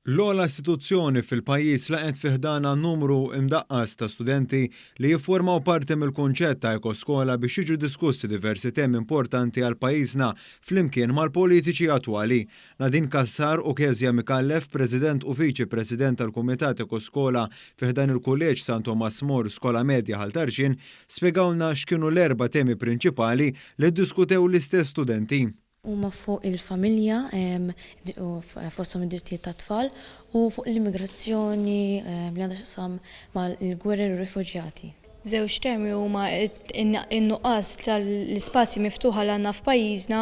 L-ogħla istituzzjoni fil-pajjiż laqgħet fi ħdanha numru imdaqqas ta' studenti li jifformaw parti mill-kunċett ta' ekoskola biex jiġu diskussi diversi temi importanti għal pajjiżna flimkien mal-politiċi attwali. Nadine Cassar u Kezia Micallef, President u Viċi President tal-Kumitat Ekoskola fi ħdan il-Kulleġġ San Tomas More Skola Medja Ħal Tarxien, spjegawlna x'kienu l-erba' temi prinċipali li ddiskutew l-istess studenti. huma fuq il-familja, fosthom id-drittijiet tat-tfal, u fuq l-immigrazzjoni li għandha x'taqsam mal-gwerer u r-rifuġjati. Żewġ temi huma n-nuqqas tal-ispazji miftuħa li għandna f'pajjiżna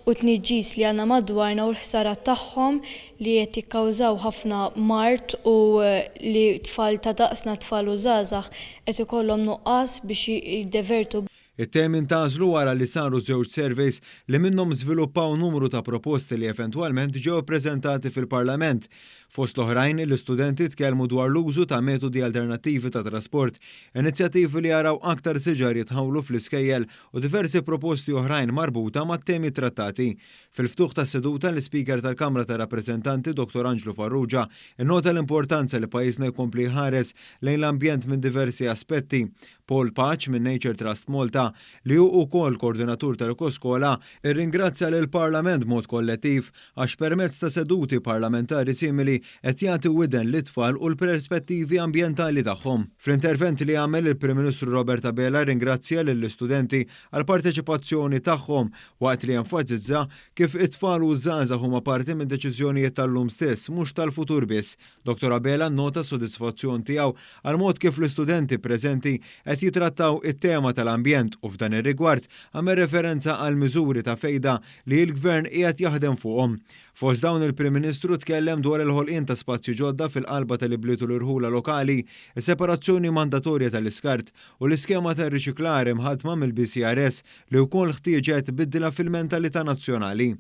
u t-tniġġis li għandna madwarna u l-ħsarat tagħhom li qed jikkawżaw ħafna mard u li tfal ta' daqsna, tfal u żgħażagħ, qed ikollhom nuqqas biex jiddevertu. It-team intgħażlu wara li saru żewġ surveys li minnhom żviluppaw numru ta' proposti li eventwalment ġew ippreżentati fil-Parlament. Fost l-oħrajn, l-istudenti tkellmu dwar l-użu ta' metodi alternattivi ta' trasport, inizjattivi li jaraw aktar siġar jitħawlu fl-iskejjel u diversi proposti oħrajn marbuta mat-temi ttrattati. Fil-ftuħ tas-seduta, l-Ispeaker tal-Kamra tar-Rappreżentanti, Dottor Anġlu Farrugia, innota l-importanza li pajjiżna jkompli jħares lejn l-ambjent minn diversi aspetti, Paul Paċ minn Nature Trust Malta, li hu wkoll Koordinatur tal-Ekoskola, irringrazzja lill-Parlament b'mod kollettiv għax permezz ta' seduti parlamentari simili qed jagħti widen lit-tfal u l-perspettivi ambjentali tagħhom. Fl-intervent li għamel, il-Prim Ministru Robert Abela rringrazzja lill-istudenti għall-parteċipazzjoni tagħhom waqt li enfasizza kif it-tfal u ż-żgħażagħ huma parti mid-deċiżjonijiet tal-lum stess mhux tal-futur biss Dottor Abela nnota s-sodisfazzjon tiegħu għall-mod kif l-istudenti preżenti qed jitrattaw it-tema tal-ambjent u f'dan ir-rigward għamel referenza għall-miżuri ta' fejda li l-Gvern qiegħed jaħdem fuqhom. Fost dawn il-Prim Ministru tkellem dwar il-ħolqien ta' spazji ġodda fil-qalba tal-ibliet u l-irħula lokali, is-separazzjoni mandatorja tal-iskart u l-iskema tar-riċiklar imħaddma mill-BCRS li wkoll ħtieġet bidla fil-mentalità nazzjonali.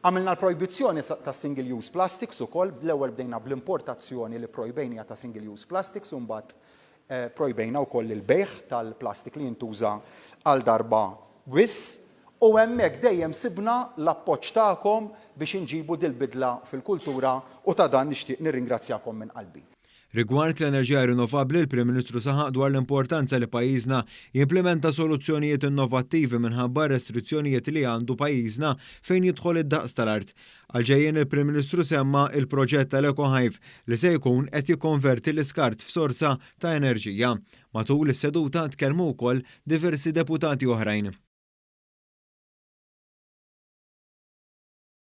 Għamilna l-projbizzjoni ta' single use plastics ukoll, l-ewwel bdejna bl-importazzjoni li pprojbejniha ta' single use plastics u mbagħad pprojbejna wkoll il-bejgħ tal-plastik li jintuża għal darba biss u hemmhekk dejjem sibna l-appoġġ tagħkom biex inġibu dil-bidla fil-kultura u ta' dan nixtieq nirringrazzjakom minn qalbi. Rigward l-enerġija rinnovabbli, il-Prim Ministru saħaq dwar l-importanza li pajjiżna jimplimenta soluzzjonijiet innovattivi minħabba r-restrizzjonijiet li għandu pajjiżna fejn jidħol id-daqs tal-art. Għall-ġejjien il-Prim Ministru semma il-proġett tal-EcoHive li se jkun qed jikkonverti l-iskart f'sorsa ta' enerġija. Matul is-seduta tkellmu wkoll diversi deputati oħrajn.